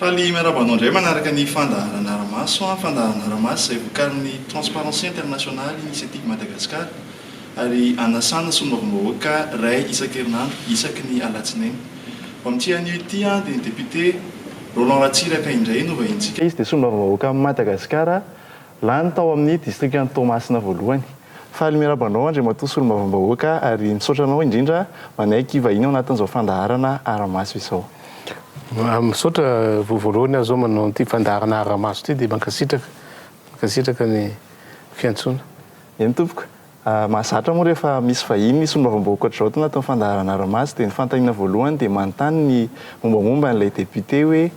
Faly miarahaba anao indray manaraka ny fandaharana Aramaso, fandaharana Aramaso izay vokarin'ny Transparency International Initiative Madagascar. ary anasana solombavambahoaka iray isan-kerinandro isaky ny alatsinainy. Vao amin'ity anio ity dia ny depiote Roland Ratsiraka indray no vahinintsika. Izy dia solombavambahoaka amin'i Madagasikara, lany tao amin'ny distrikan'i Toamasina voalohany. Faly miaraba anao Andriamatoa solombavambahoaka ary misaotra anao indrindra manaiky hivahiny ao anatin'izao fandaharana Ara-maso izao. Misaotra, vao voalohany aho izao manao an'ity fandaharana Ara-maso ity dia mankasitraka, mankasitraka ny fiantsoana. Eny tompoko, mahazatra moa rehefa misy vahiny ny solombavambahoaka ohatr'izao atao anatin'ny fandaharana ara-maso dia ny fanontaniana voalohany dia manontany ny mombamomba an'ilay député hoe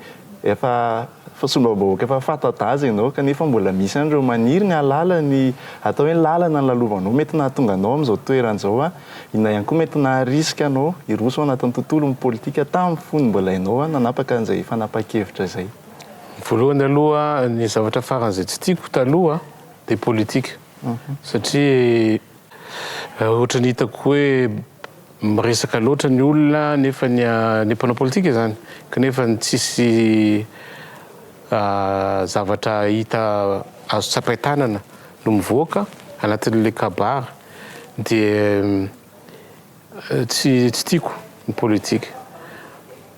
efa solombavambahoaka efa fanta-daza ianao kanefa mbola misy ihany ireo maniry ny hahalala ny atao hoe ny lalana nilalovanao mety nahatonga anao amin'izao toerana izao an, inona ihany koa mety naharisika anao hiroso ao anatin'ny tontolon'ny politika tamin'ny fony mbola ianao nanapaka an'izay fanapahan-kevitra izay. Voalohany aloha ny zavatra faran'izay tsy tiako taloha dia politika satria ohatran'ny hitako hoe miresaka loatra ny olona nefa ny ny mpanao politika izany kanefa ny tsisy zavatra hita azo tsapain-tanana no mivoaka anatin'ilay kabary dia Tsy tsy tiako ny politique.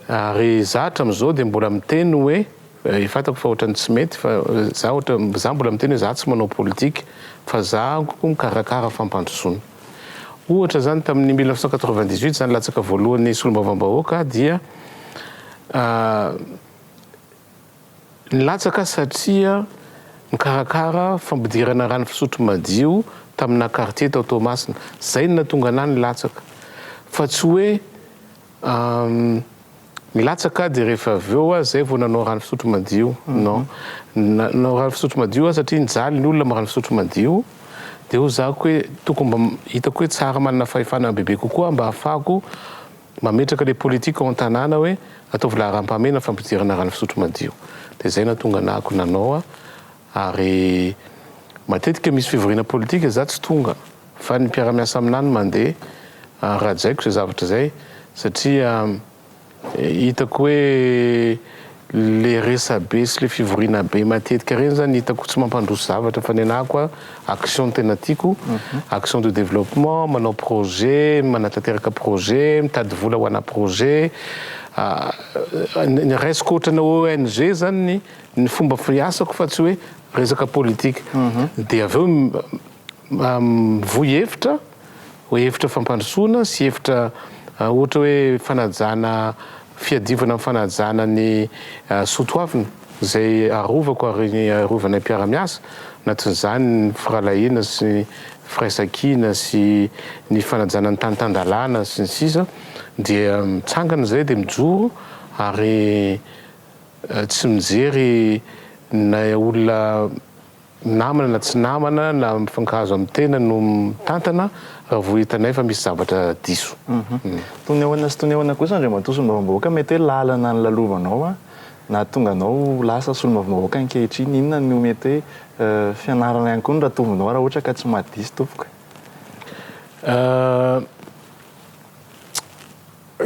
Ary za hatramizao dia mbola miteny hoe eh, fantako fa ohatrany tsy mety fa za ohatra za mbola miteny hoe za tsy manao politique fa za ko mikarakara fampandrosoana. Ohatra zany tamin'ny mille neuf cent quatre-vingt-dix-huit za nilatsaka voalohany solombavambahoaka dia ah, Nilatsaka satria nikarakara fampidirana rano fisotro madio taminà kartie tao Toamasina. Izay no nahatonga anà nilatsaka. Fa tsy hoe nilatsaka dia rehefa avy eo aza izay vao nanao rano fisotro madio. Non. Nanao rano fisotro madio aho satria nijaly ny olona amin'ny rano fisotro madio. Dia hozahako hoe tokony mba hitako hoe tsara manana fahefana bebe kokoa mba hahafahako Mametraka le politique ao an-tanàna hoe ataovy laharam-pahamehana fampidirana rano fisotro madio. Dia zay nahatonga anah ko nanao a. Ary matetika misy fivoriana politika za tsy tonga fa ny mpiara-miasa aminah no mandeha ary rajaiko zay zavatra zay satria hitako hoe Le resabe sy le fivoriana be matetika reny zany hitako tsy mampandroso zavatra fa ny anahy koa action no tena tiako action de développement manao projet manatanteraka projet mitady vola ho ana projet ny raisiko ohatrana ONG zany ny fomba fiasako fa tsy hoe resaka politique de avy eo Mivoy hevitra, hevitra fampandrosoana sy hevitra ohatra hoe fanajana fiadiovana amin'ny fanajana ny soa toavina izay arovako ary arovana ny mpiara-miasa, anatin'izany ny firahalahiana sy ny firaisankina sy ny fanajana ny tany tan-dalàna sy ny sisa dia mitsangana izay dia mijoro ary tsy mijery na olona namana na tsy namana na mifankahazo amin'ny tena no mitantana raha vao hitanay fa misy zavatra diso. Tonehona sy tonehona kosa Andriamatoa Solombavambahoaka mety hoe lalana nilalovanao nahatonga anao ho lasa Solombavambahoaka ankehitriny inona no mety hoe fianarana ihany koa no ratovinao raha ohatra ka tsy maha diso tompoko e.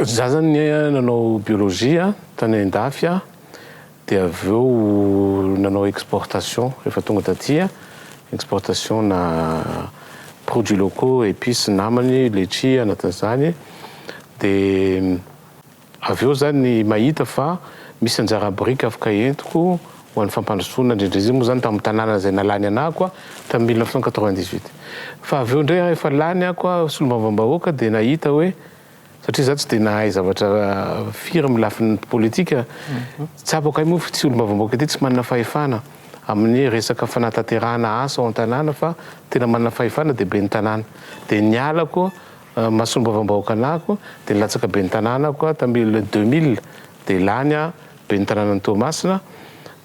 Za zany nanao biologie tany an-dafy aho. Dia avy eo nanao exportation rehefa tonga taty a, exportation-na produits locaux, épices, namany, letchia anatin'izany. Dia avy eo izany mahita fa misy anjara biriky afaka entiko ho an'ny fampandrosoana indrindra, izy io moa izany tamin'ny tanàna izay nalany anako a, tamin'ny mille neuf cent quatre-vingt-dix-huit. Fa avy eo indray rehefa lany ako a, solombavambahoaka dia nahita hoe. Satria za tsy dia nahay zavatra firy amin'ny lafiny politika, tsapako ahy moa fa ity solombavambahoaka ity tsy manana fahefana amin'ny resaka fanatanterahana asa ao an-tanàna fa tena manana fahefana dia ben'ny tanàna. Dia nialako maha solombavambahoaka anahako dia nilatsaka ben'ny tanàna aho koa tamin'ny le 2000 dia lany aho ben'ny tanànan'i Toamasina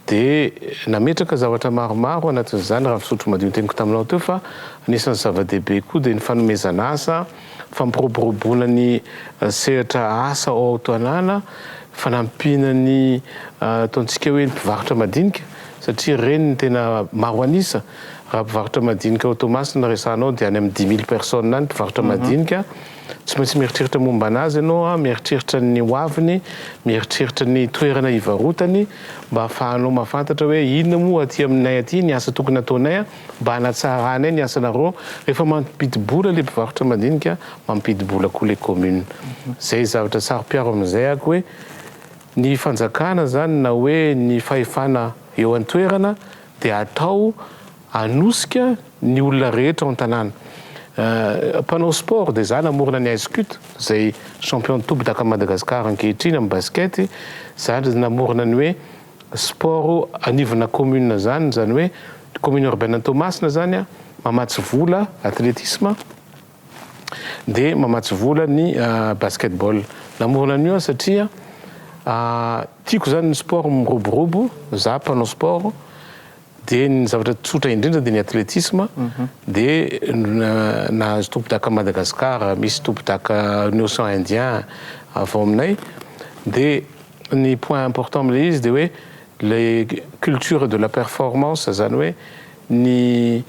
Dia nametraka zavatra maromaro anatin'izany raha fisotro madio ny teniko taminao teo fa anisan'ny zava-dehibe koa dia ny fanomezana asa, fampiroboroboana ny sehatra asa ao Aotanàna, fanampiana ny ataontsika hoe ny mpivarotra madinika satria ireny no tena maro an'isa. Raha mpivarotra madinika ao Toamasina resahanao dia any amin'ny dix mille personnes any mpivarotra madinika. Tsy maintsy mieritreritra momba anazy ianao, mieritreritra ny hoaviny, mieritreritra ny toerana hivarotany mba hahafahanao mahafantatra hoe inona moa aty aminay aty ny asa tokony hataonay mba hanatsaranay ny asanareo. Rehefa mampidi-bola ilay mpivarotra madinika, mampidi-bola koa ilay commune. Izay zavatra saro-piaro amin'izay ako hoe ny fanjakana izany na hoe ny fahefana eo an-toerana dia atao Hanosika ny olona rehetra ao an-tanàna. Mpanao sport dia za namorona ny Ice Cut izay champion toby takan'i Madagascar ankehitriny amin'ny basket. Za ndry namorona ny hoe sport anivona commune izany, izany hoe commune urbaine an'i Toamasina izany an, mamatsy vola athlétisme dia mamatsy vola ny basket ball. Namorona an'io aho satria tiako izany ny sport miroborobo, za mpanao sport. Dia ny zavatra tsotra indrindra dia ny athletisme dia nahazo tompondaka Madagascar, misy tompondaka ny Ocean Indien avy ao aminay dia ny point important amin'ilay izy dia hoe le culture de la performance zany hoe ny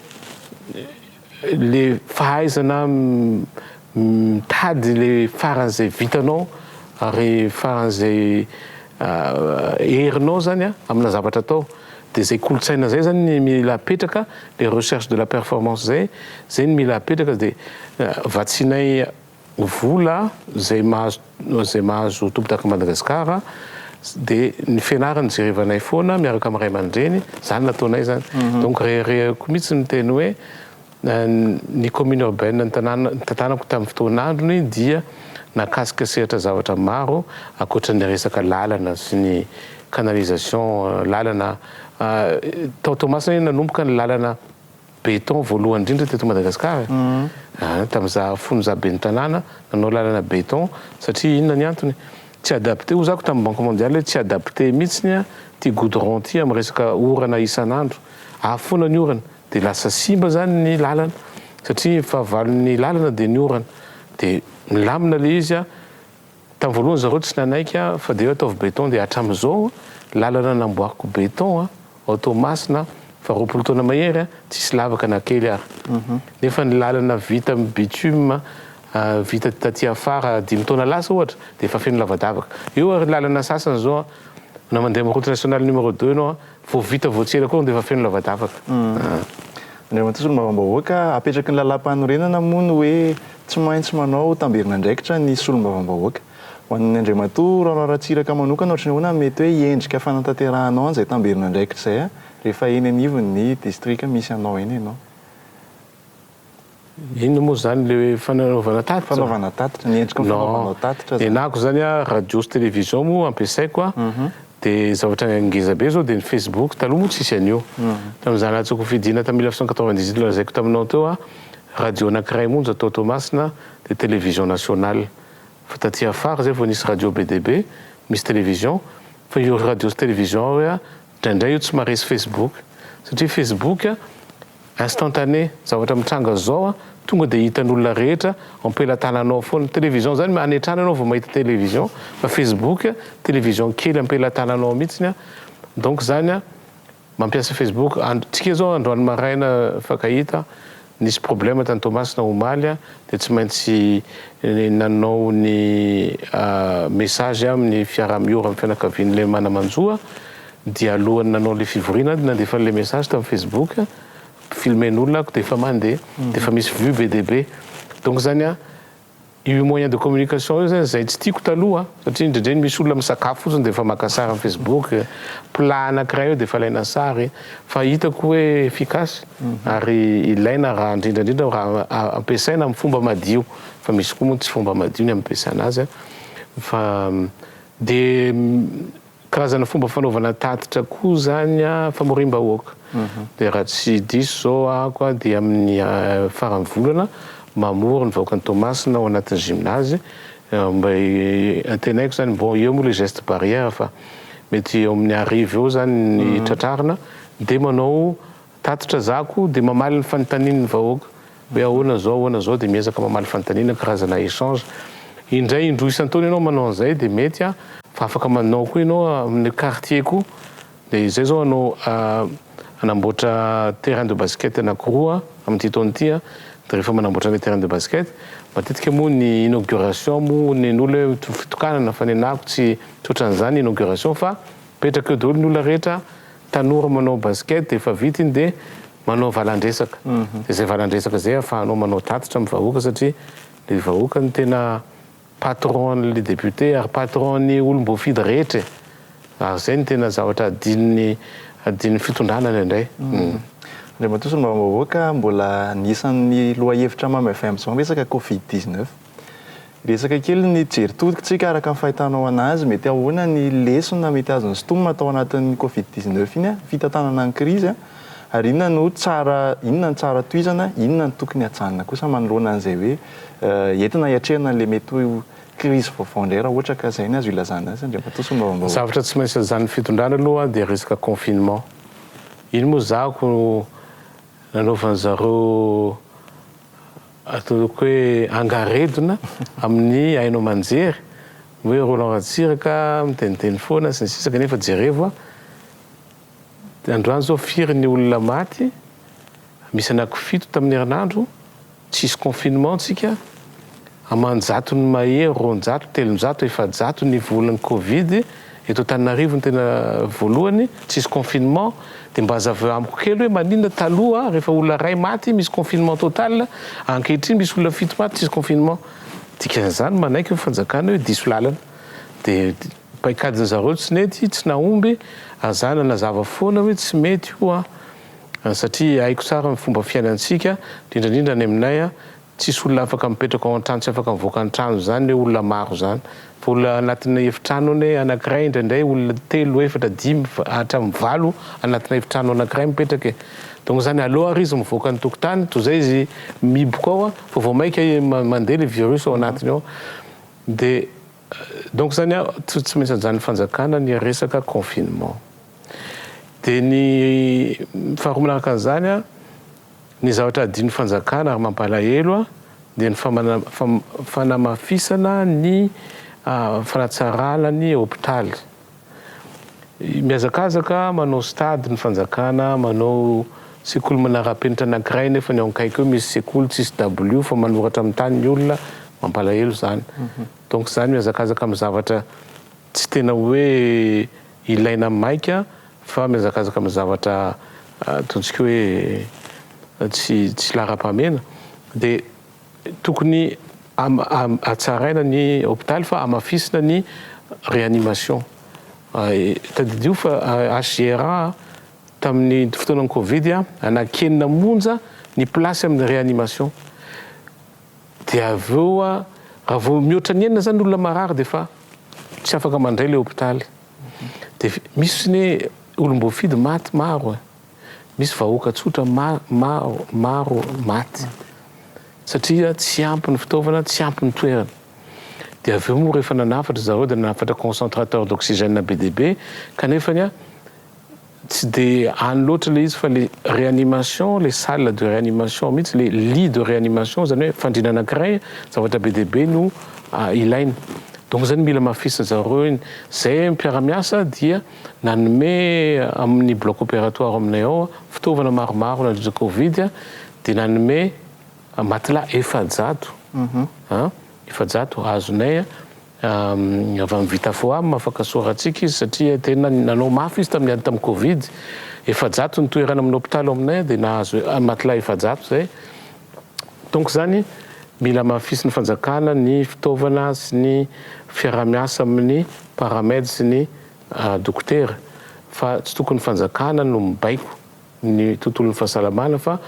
le fahaizana mitady le faran'izay vitanao ary faran'izay herinao zany a amina zavatra atao de zay kolotsaina zay zany ny mila apetraka le recherche de la performance zay zay ny mila apetraka de vatsianay vola zay mahazo zay mahazo tompondaka Madagascar de ny fianarany jerevanay foana miaraka am ray aman-dreny zany nataonay zany donc reharehako mitsy miteny hoe ny commune urbaine ny tanàna tantanako tam fotoan'androny dia nakasika sehatra zavatra maro akoatran'ny resaka lalana sy ny canalisation lalana tao Toamasina nanomboka ny lalana Beton voalohany indrindra teto Madagascar e! An! Tamin'ny za fony za ben'ny tanàna nanao lalana beton satria inona ny antony? Tsy adapté hoy zako tamin'ny banque mondiale hoe tsy adapté mihitsiny ity goudron ity amin'ny resaka orana isan'andro. Avy foana ny orana dia lasa simba zany ny lalana satria fahavalon'ny lalana dia ny orana dia milamina le izy an! Tamin'ny voalohany zareo tsy nanaiky a, fa dia hoe ataovy beton dia hatramin'izao lalana namboariko beton a, ao Toamasina fa roapolo taona mahery a, tsisy lavaka na kely ary. Nefa ny lalana vita amin'ny bitume vita taty afara dimy taona lasa ohatra dia efa feno lavadavaka. Eo ary lalana sasany zao a, na mandeha amin'ny route nationale numéro deux enao a, Vao vita vao tsy ela koa dia efa feno lavadavaka a! Andriamatoa Solombavambahoaka, apetraky ny Lalàmpanorenana moa ny hoe tsy maintsy manao tamberin'andraikitra ny Solombavambahoaka. Ho an'ny Andriamatoa Raola Ratsiraka manokana ohatry ny ahoana ny mety hoe endrika fanatanterahanao an'izay tamberin'andraikitra izay rehefa eny anivon'ny Distrika misy anao eny ianao? Inona moa zany le fananaovana tatitra? Fanaovana tatitra, ny endriky ny fanaovanao tatitra zany. Nenako zany a, radio sy télévision moa ampiasaiko a, de zavatra ngeza be zao de ny Facebook, taloha moa tsisy an'io. Tamin'ny za nahazoako fidiana tamin'ny mille neuf cent quatre-vingt-dix-huit nolazaiko taminao teo a, radio anankiray monja tao Toamasina de télévision nationale, fa taty afara zay vao nisy radio be dia be, misy télévision, fa io radio sy télévision io a, Indraindray io tsy maharesy Facebook satria Facebook instantané, zavatra mitranga zao a tonga de hitan'olona rehetra ampelatananao foana. Télévision zany any an-trano ianao vao mahita télévision fa Facebook télévision kely ampelatananao mihitsiny a donc zany a mampiasa Facebook andro, tsika zao androany maraina fakahita. Nisy problème tany Toamasina omaly aho dia tsy maintsy nanao ny message aho amin'ny fiaraha miora amin'ny fianakavian'ilay manamanjoa dia alohan'ny nanao ilay fivoriana aho dia nandefa an'ilay message tamin'ny Facebook filmer-n'olona aho dia efa mandeha dia efa misy vue be dia be donc zany a Io moyen de communication io zany zay tsy tiako taloha satria indraindray misy olona misakafo fotsiny dia efa maka sary am facebook, plat anakiray eo dia efa alaina sary fa hitako hoe efficace ary ilaina raha indrindra indrindra raha ampiasaina am fomba madio fa misy koa moa tsy fomba madio ny ampiasana azy fa dia Karazana fomba fanaovana tatitra koa izany famoriam-bahoaka. Dia raha tsy diso izao ahako dia amin'ny faran'ny volana mamory ny vahoakan'i Toamasina ao anatin'ny gymnase. Mba antenaiko izany, bon eo moa ilay geste barrière fa mety eo amin'ny arivo eo izany ny tratrarina dia manao Tatitra za ko de mamaly ny fanontanin ny vahoaka hoe ahoana zao ahoana zao de miezaka mamaly fanontanina karazana echange indray indroa isantaona enao manao anzay de mety a fa afaka manao koa enao aminy quartier ko de zay zao anao anamboatra terrain de basket anakiroa amity taona ty a de refa manamboatra ilay terrain de basket matetika moa ny inauguration moa nen'olo hoe fitokanana fa nenako tsy tsy otranzany inauguration fa mipetraka eo daholo ny olona rehetra Tanora manao basket dia efa vita iny dia manao valandresaka, dia izay valandresaka izay ahafahanao manao tatitra amin'ny vahoaka satria ilay vahoaka no tena patron-n'ilay député ary patron-ny olom-boafidy rehetra e! ary izay no tena zavatra adinon'ny adinon'ny fitondrana indraindray. Andriamatoa Solombavambahoaka, mbola anisan'ny lohahevitra mamy avy amin'izao ny resaka covid dix-neuf. Resaka kely ny jeritodikotsika araka ny fahitanao anazy, mety ahoana ny lesona mety azon'ny Stum atao anatin'ny covid dix neuf iny an, fitantanana ny krizy an, ary inona no tsara, inona no tsara tohizana, inona no tokony hajanona kosa manoloana an'izay hoe entina hiatrehana an'ilay mety ho krizy vaovao indray raha ohatra ka izay ny azo ilazana azy, Andriamatoa Solombavambahoaka. Zavatra tsy maintsy ajanon'ny fitondrana aloha dia resaka confinement, iny moa zahako nanaovan'zareo Atoloiko hoe angaredona amin'ny haino aman-jery ny hoe Roland Ratsiraka miteniteny foana sy ny sisa kanefa jerevo a! androany zao firy ny olona maty misy anaky fito tamin'ny herinandro tsisy confinement tsika aman-jatony mahery roanjato telonjato efajato ny volan'ny covid Eto Antananarivo no tena voalohany, tsisy confinement, dia mba azaveo amiko kely hoe maninona taloha rehefa olona iray maty misy confinement total, ankehitriny misy olona fito maty tsisy confinement, dikan'izany manaiky ny fanjakana hoe diso lalana, dia paikadin'ny zareo tsy nety, tsy nahomby, ary za nanazava foana hoe tsy mety io an, satria haiko tsara ny fomba fiainantsika, indrindraindrindra any aminay an, Tsisy olona afaka mipetraka ao an-trano tsy afaka mivoaka ny trano izany hoe olona maro izany fa olona anatina efitrano anie anankiray indraindray olona telo efatra dimy hatramin'ny valo anatina efitrano anankiray mipetraka e donc izany aleo ary izy mivoaka ny tokotany toy izay izy miboka ao fa vao maika mandeha le virus ao anatiny ao de donc izany a tsy maintsy ajanon'ny fanjakana ny resaka confinement de ny faharoa manaraka an'izany a Ny zavatra adinon'ny fanjakana ary mampalahelo dia ny fanamafisana ny fanatsarana ny hopitaly. Mihazakazaka manao stade ny fanjakana, manao sekoly manara-penitra anankiray nefa ny ao akaiky eo misy sekoly tsisy dabilio fa manoratra amin'ny tany ny olona, mampalahelo izany. Donc izany mihazakazaka amin'ny zavatra tsy tena hoe Ilaina maika fa mihazakazaka amin'ny zavatra ataontsika hoe tsy tsy laharam-pahamehana dia tokony hatsaraina ny hopitaly fa hamafisina ny réanimation. Tadidio fa HGRA tamin'ny fotoanan'ny covid anaky enina monja ny place amin'ny réanimation. Dia avy eo a, raha vao mihoatra ny enina izany ny olona marary dia efa tsy afaka mandray ilay hopitaly. Dia misy fotsiny hoe olom-boafidy maty maro e. Misy vahoaka tsotra maro, maro maty. Satria tsy ampy ny fitaovana, tsy ampy ny toerana. Dia avy eo moa rehefa nanafatra zareo dia nanafatra concentrateur d'oxygène be dia be, kanefany a, Tsy dia any loatra ilay izy fa ilay réanimation, ilay salle de réanimation mihitsy, ilay lit de réanimation, izany hoe fandriana anankiray, zavatra be dia be no ilaina. Donc izany mila hamafisin'ny zareo iny. Izay mpiara-miasa dia nanome amin'ny bloc opératoire aminay ao fitaovana maromaro nandritra Covid, dia nanome matelas efajato, efajato azonay. Avy amin'ny Vitafoam, afaka soratsika izy satria tena nanao mafy izy tamin'ny ady tamin'ny Covid. Efajato ny toerana amin'ny hopitaly ao aminay dia nahazo matelas efajato izay. Donc izany mila hamafisin'ny fanjakana ny fitaovana sy ny fiaraha-miasa amin'ny Paramed sy ny dokotera fa tsy tokony ny fanjakana no mibaiko ny tontolon'ny fahasalamana fa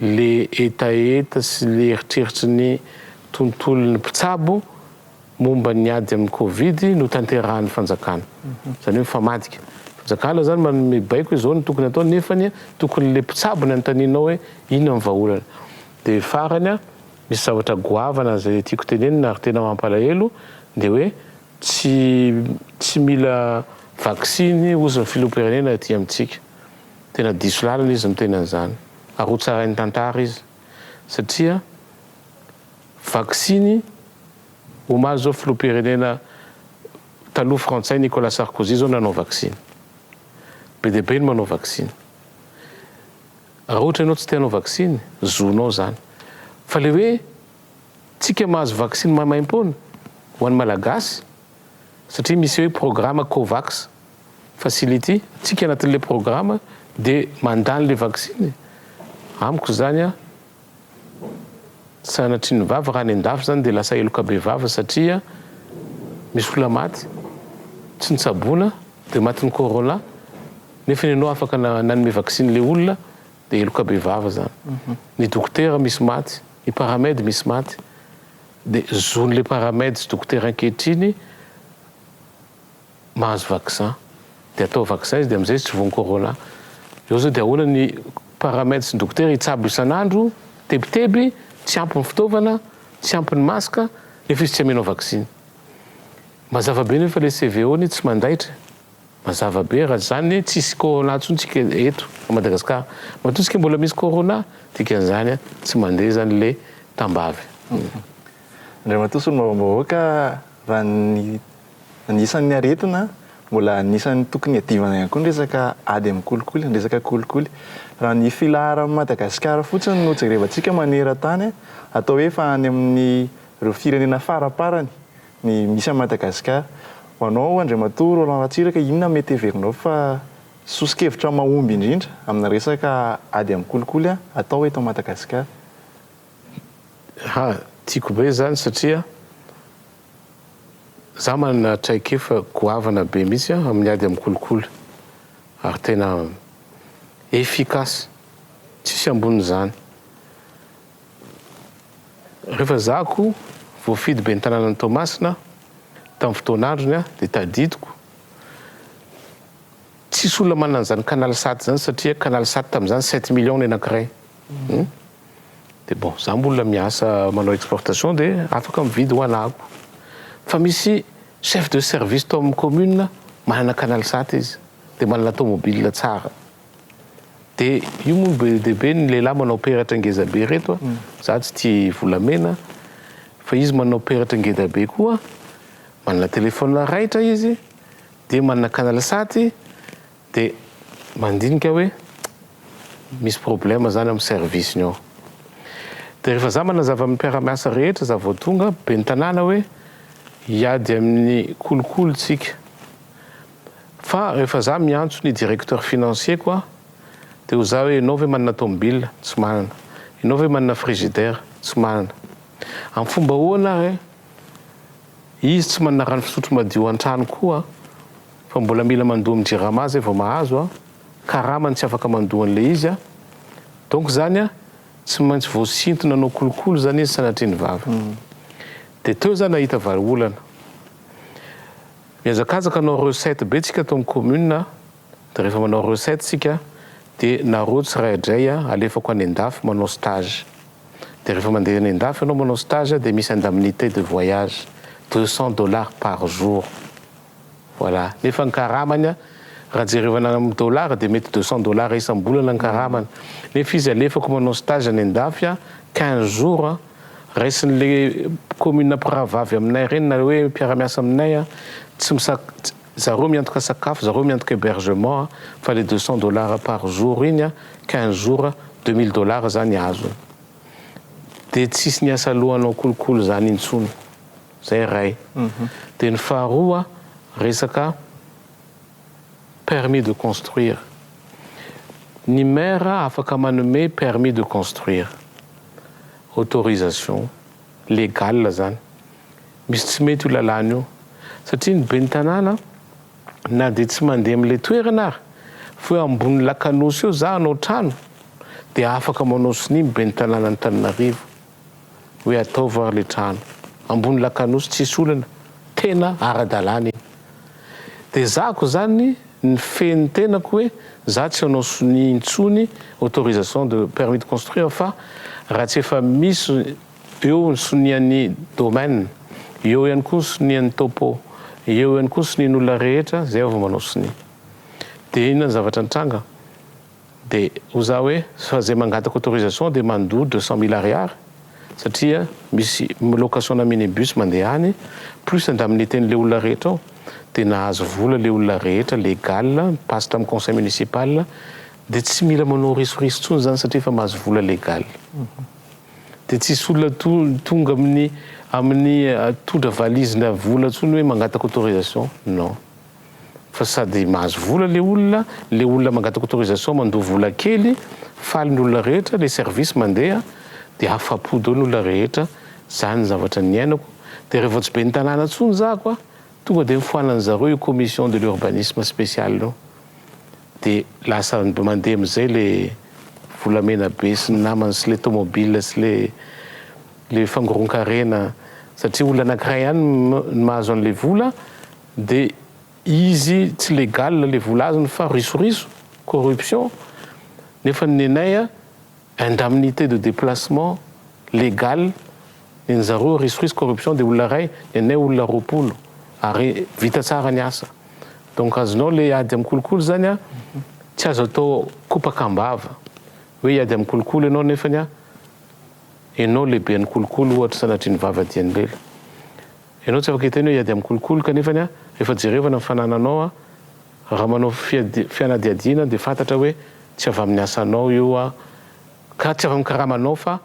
le hetaheta sy le eritreritry ny tontolon'ny mpitsabo momba ny ady amin'ny covid no tanterahan'ny fanjakana zany hoe mifamadika fanjakana zany manome baiko izao no tokony atao nefa ny tokony le mpitsabo ny anontaninao hoe inona ny vaholana de farany a misy zavatra goavana zay tiako tenenina ary tena mampalahelo de hoe tsy tsy mila vaksiny ozy ny filoham-pirenena aty amintsika Tena diso lalana izy miteny an'izany ary ho tsarain'ny tantara izy satria vaksiny omaly izao filoham-pirenena taloha frantsay Nicolas Sarkozy izao nanao vaksiny. Be dia be ny manao vaksiny. Raha ohatra ianao tsy te hanao vaksiny, zonao izany. Fa ilay hoe tsika mahazo vaksiny maimaim-poana ho an'ny Malagasy, satria misy hoe programa covax facility tsika anatin'ilay programa de mandany le vaksiny amiko zany a sanatrian'ny vava raha any andafy zany de lasa heloka be vava satria misy olona maty tsy nitsaboana de matin'ny corona nefa ny anao afaka nanome vaksiny le olona de heloka be vava zany mhm. ny dokotera misy maty ny paramed misy maty Dia zon'ilay paramed dokotera ankehitriny mahazo vaccin dia atao vaccin izy dia amizay izy tsy voan'ny corona. Eo zao dia ahoana ny paramed sy ny dokotera hitsabo isan'andro tebiteby tsy ampy ny fitaovana tsy ampy ny masque nefa izy tsy amenao vaccine. Mazava be nefa le CVO-ny tsy mandaitra e. Mazava be raha zany hoe tsisy corona tsony tsika eto a Madagascar matoa tsika mbola misy corona dikany zany a tsy mande zany le tambavy. Andriamatoa solombavambahoaka raha ny anisan'ny aretina mbola anisan'ny tokony hiadivana ihany koa ny resaka ady amin'ny kolikoly, ny resaka kolikoly. Raha ny filaharan'i Madagasikara fotsiny no jerevantsika maneran-tany atao hoe efa any amin'ireo firenena faraparany ny misy an'i Madagascar. Ho anao Andriamatoa Roland Ratsiraka, inona mety heverinao fa soso-kevitra mahomby indrindra amina resaka ady amin'ny kolikoly atao eto Madagascar? Ha, tiako be izany satria za manana traikefa goavana be mihitsy amin'ny ady amin'ny kolikoly ary tena efficace, tsisy ambonin'izany. Rehefa zako voafidy ben'ny tanànan'i Toamasina tamin'ny fotoana androny dia tadidiko tsisy olona manana an'izany canal sat izany satria canal sat tamin'izany sept millions ny anankiray hum dia bon za mbola miasa manao exportation dia afaka mividy ho anako fa misy chef de service tao amin'ny commune manana canal sat izy dia manana tomobile tsara De io moa no be dia be ny lehilahy manao peratra ngeza be reto a, za tsy tia volamena fa izy manao peratra ngeda be koa, manana telefaonina raitra izy, dia manana canal sat-y, de mandinika hoe misy problème zany amin'ny service-ny ao, de rehefa za manazava amin'ny mpiara-miasa rehetra za vao tonga, ben'ny tanàna hoe hiady amin'ny kolikoly tsika. Fa rehefa za miantso ny directeur financier ko a de ho za hoe enao ve manana tomobile? tsy manana. Enao ve manana frigidaire? tsy manana. Am fomba ahoana ary izy tsy manana rano fisotro madio antrano koa fa mbola mila mandoa am jirama zay vao mahazo a, karama ny tsy afaka mandoa anle izy a, donc zany a tsy maintsy voasintona anao kolokolo zany izy sanatria ny vava. De teo za nahita vahaolana. Mihazakazaka hanao recette be tsika ato am commune a, de rehefa manao recette tsika de nareo tsiraidray a alefako any andafy manao stage, de rehefa mande any andafy anao manao stage a de misy indemnite de voyage deux cent dollars par jour voilà, nefa ny karamany a raha jerevana am dollars de mety deux cent dollars isam bolana ny karamany, nefa izy alefako manao stage any andafy a quinze jours Raisin'le commune mpirahavavy aminay ireny nareo hoe mpiara-miasa aminay a, tsy misak, zareo miantoka sakafo, zareo miantoka hebergement a, fa le deux cents dollars par jour iny a, quinze jours a, deux mille dollars zany azony. De tsisy ny asa lohanao kolikoly zany intsony. Zay ray. De ny faharoa resaka. permis de construire. Ny maire afaka manome permis de construire, autorisation légale zany. Misy tsy mety io lalàna io satria ny ben'ny tanàna na dia tsy mandeha amin'ilay toerana ary fa hoe ambony lakanosy eo za hanao trano dia afaka manao sonia ny ben'ny tanànan'Antananarivo. hoe ataovy ary le trano ambony lakanosy tsisy olona tena aradalana iny de zahako zany ny feny tenako hoe za tsy anao sonia intsony autorisation de permis de construire fa raha tsy efa misy eo ny sonian'ny domaine eo ihany koa ny sonian'ny topo eo ihany koa ny sonian'olona rehetra zay vao manao sonia de inona ny zavatra nitranga De ho za hoe fa zay mangataka autorisation de mandoa deux cent mille ariary satria misy location na mini bus mandeha any plus indemnité-ny le olona rehetra ao de nahazo vola le olona rehetra legal mi-passe tam conseil municipal de tsy mila manao risoriso tsony zany satria efa mahazo vola legal de tsisy olona to tonga aminy aminy todra valizy na vola tsony hoe mangataka autorisation non. fa sady mahazo vola le olona, le olona mangataka autorisation mandoa vola kely, faly ny olona rehetra, le service mandeha de afapo daholo ny olona rehetra, zany ny zavatra niainako, de re vao tsy ben'ny tanàna tsony za ko a, tonga de nifoanan'ny zareo io commission de l'urbanisme special io, de lasa mandeha amizay le volamena be sy ny namany sy le tomobile sy le le fangoronkarena satria olona anakiray ihany no mahazo anle vola, Dia izy tsy legal le vola azony fa risoriso, corruption, nefa ny nenay a indemnité de déplacement legal ny an'i zareo risoriso corruption dia olona iray, ny anay olona roapolo ary vita tsara ny asa. Donc azonao le ady amin'ny kolikoly zany a tsy azo atao kopaka am-bava hoe hiady amin'ny kolikoly ianao nefany a ianao lehiben'ny kolikoly ohatra sanatria nivavadian'i lela. Ianao tsy afaka hiteny hoe hiady amin'ny kolikoly kanefa ny ahy efa jerevana ny fanananao aho. Raha manao fianadiadiana dia fantatra hoe tsy avy amin'ny asanao io aho ka tsy avy amin'ny karamanao fa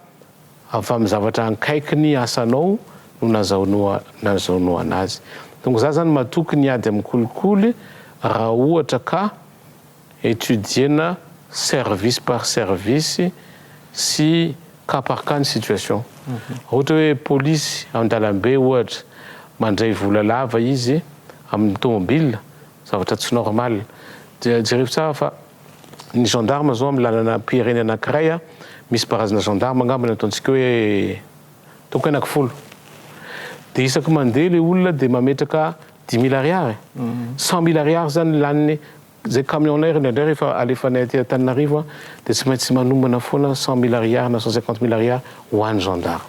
avy amin'ny zavatra ankaiky ny asanao no nazahoanao azy. Donc za zany matoky ny hiady amin'ny kolikoly raha ohatra ka. Etudier-na service par service sy cas par cas ny situation. Raha ohatra hoe polisy an-dalambe ohatra, mandray vola lava izy amin'ny tomobilina, zavatra tsy normal. Dia jerevo tsara fa ny gendarme zao amin'ny lalanam-pirenena anankiray, misy barazana gendarme angamba ny ataontsika hoe. Toko enak folo. De isaky mandeha le olona de mametraka dix mille ariary, cent mille ariary zany laniny zay camion nay indraindray rehefa alefanay aty Antananarivo a de tsy maintsy manombana foana cent mille ariary na cent cinquante mille ariary ho any gendarme.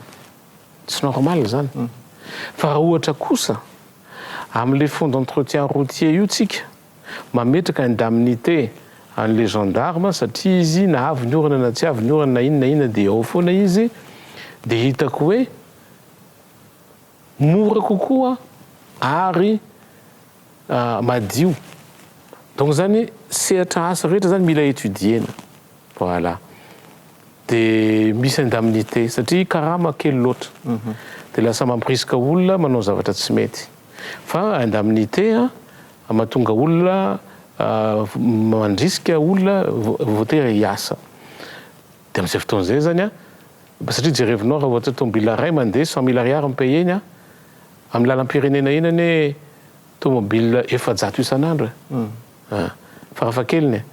Tsy normal zany. Fa raha ohatra kosa amle fonds d'entretien routier io tsika Mametraka indemnité an'le gendarme satria izy na avy ny orana na tsy avy ny orana na inona na inona dia ao foana izy dia hitako hoe mora kokoa ary madio donc zany sehatra asa rehetra zany mila étudier-na voilà dia misy indemnité satria karama kely loatra dia lasa mampirisika olona manao zavatra tsy mety. Fa indemnité an, mahatonga olona mandrisika olona voatery hiasa. Dia amin'izay fotoana izay zany an, satria jerevinao raha ohatra tomobila iray mandeha cent mille ariary ny payer-ny an, amin'ny lalam-pirenena eny anie tomobila efajato isan'andro e! Farafahakeliny e!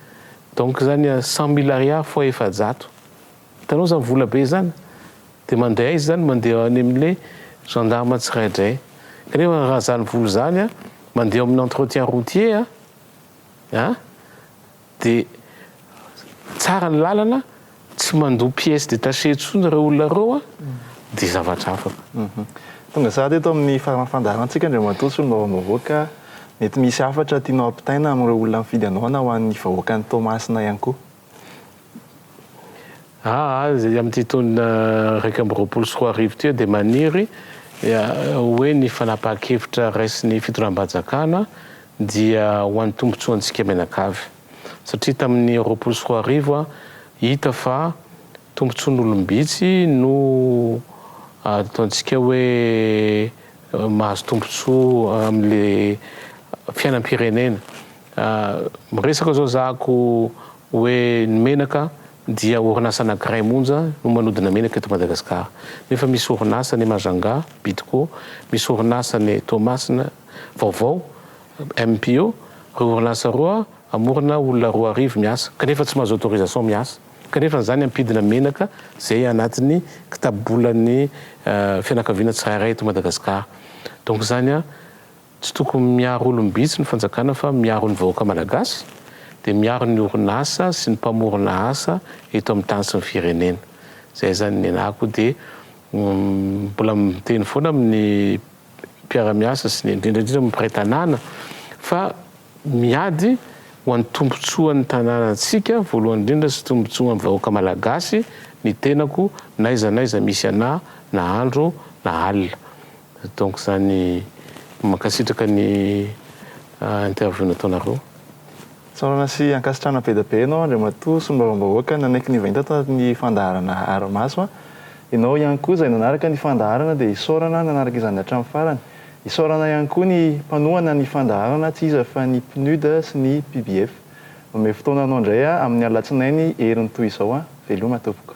Donc zany an, cent mille ariary fois efajato. Hitanao zany vola be zany de mandeha aiza zany mandeha any amle gendarme tsiraidraiy kanefa raha zany vola zany a mandeha eo aminy entretien routier a a de tsara ny lalana tsy mandoa pièce détachée tsony reo olona reo a de zavatra hafa koa. Tonga sahady eto amin'ny faran'ny fandaharantsika Andriamatoa Solombavambahoaka ka mety misy hafatra tianao ampitaina amin'ireo olona mifidy anao na ho an'ny vahoakan'i Toamasina ihany koa. Azy amin'ity taona iraika amby roapolo sy roa arivo ity dia maniry ho hoe ny fanapahan-kevitra raisin'ny fitondram-panjakana dia ho an'ny tombontsoantsika mianakavy satria tamin'ny roapolo sy roa arivo hita fa tombontsoan'olom-bitsy no ataontsika hoe mahazo tombontsoa amin'ilay fiainam-pirenena Miresaka zao zako oe ny menaka dia orinasa anakiray monja no manodina menaka eto Madagascar nefa misy orinasa any Majunga, Bidco, misy orinasa any Toamasina vaovao, MPO, reo orinasa roa amorona olona roa arivo miasa kanefa tsy mahazo autorisation miasa kanefa izany ampidina menaka zay anatiny kitabobolan'ny fianakaviana tsirairay eto Madagascar donc zany Tsy tokony miaro olom-bitsy ny fanjakana fa miaro ny vahoaka malagasy dia miaro ny orinasa sy ny mpamorona asa eto amin'ny tany sy ny firenena. Izay izany nianahako dia mbola miteny foana amin'ny mpiara-miasa sy ny indrindra indrindra amin'ny mpiray tanàna fa miady ho an'ny tombontsoan'ny tanànantsika voalohany indrindra sy tombontsoan'ny vahoaka malagasy ny tenako n'aiza n'aiza misy anà na andro na alina. Donc zany mankasitraka ny interview nataonareo. Tsaorana sy ankasitrahana be dia be anao Andriamatoa Solombavambahoaka nanaiky ny vainta tato anatin'ny fandaharana Harimaso. Ianao ihany koa izay nanaraka ny fandaharana dia isaorana nanaraka izany hatramin'ny farany. Isaorana ihany koa ny mpanohana ny fandaharana tsy iza fa ny PNUD sy ny PBF. Omeo fotoana anao indray aho amin'ny alatsinainy heriny toy izao an! Veloma tompoko.